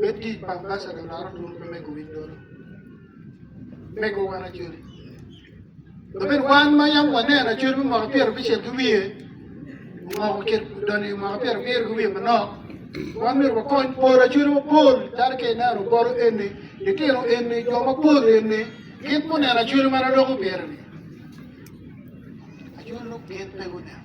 me tic pa ambacada odaro dul me mego winy dolo. Mego wan acoli. Labed wan ma yam waneno acoli me mwaka pyero abicel ki wiye, omoko kit doni mwaka pyero abiro ki wiye manok, wan myero wakony pol acoli mapol calo ka ineno bolo eni, litino eni, jo mapol eni, gin guneno acoli ma dok obyero-ni. Acoli lok gin pe guneno.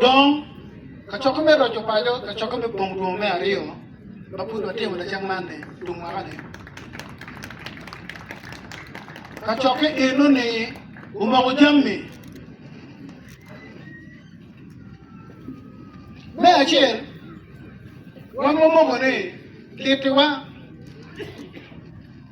Dong, kacokke me roco paco, kacokke me pongo twongo me aryo ma pud watimo lacen man-ni, tung waka-ni. Kacokke eno-ni omoko jami me acel, wan wamoko ni kitiwa.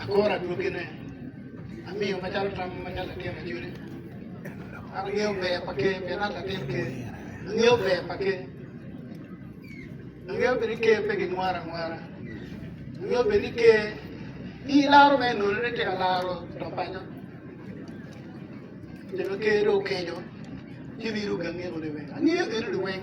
Akora adwogine, amiyo macalo tam ma nyal latin acoli. Angeyo ber pa ker pien an latin ker. Angeyo ber pa ker. Angeyo bene ker pe gimwara mwara. Angeyo bene ker ni laro me nono ni tika laro to paco. Jalo ker do okejo. Ci biru gangeko ni weng. Angeyo geno ni weng.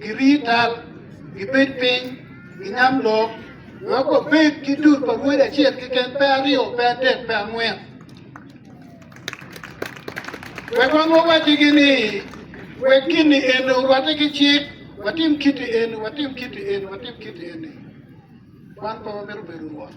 Giri tal, gibed piny, ginyam lok, wek wabed ki dul pa wode acel keken, pe aryo, pe adek, pe angwen. Wek wan wawaccigi ni, Wek gin-ni eni orwatte ki cik, watim kit-ti eni, watim kit-ti eni, watim kit-ti eni. Wan pe wamito bedo rwot.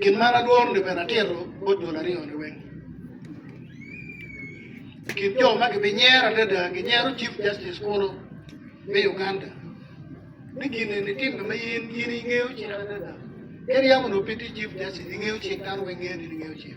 Gin man adworo-ni bene atito bot dul aryo-ni weng. I kin jo ma gibinyero adada, ginyero Chief Justice kunu me Uganda. Ni gin eni timme ma in in ingeyo cik adada. Ka iryemo onongo pe itye Chief Justice, ingeyo cik, dano weng ngeyo ni in ingeyo cik.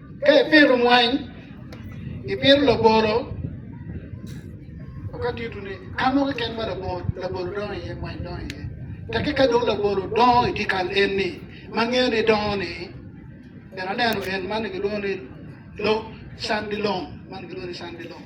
Ka ipito mwany, ipito labolo, ka tito ni ka mo keken ma labolo labolo dongo iye mwany dongo iye taki ka dong labolo dongo i dikal en ni ma ngeo ni dongo ni en aneno en man gilwongo ni lo sandi long man gilwongo ni sandi long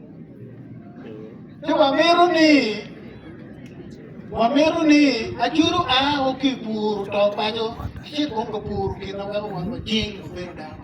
Ci wamito ni wamito ni acudu a o ki puro to paco ci kong ka puro kine weko wan wajing obedo dano.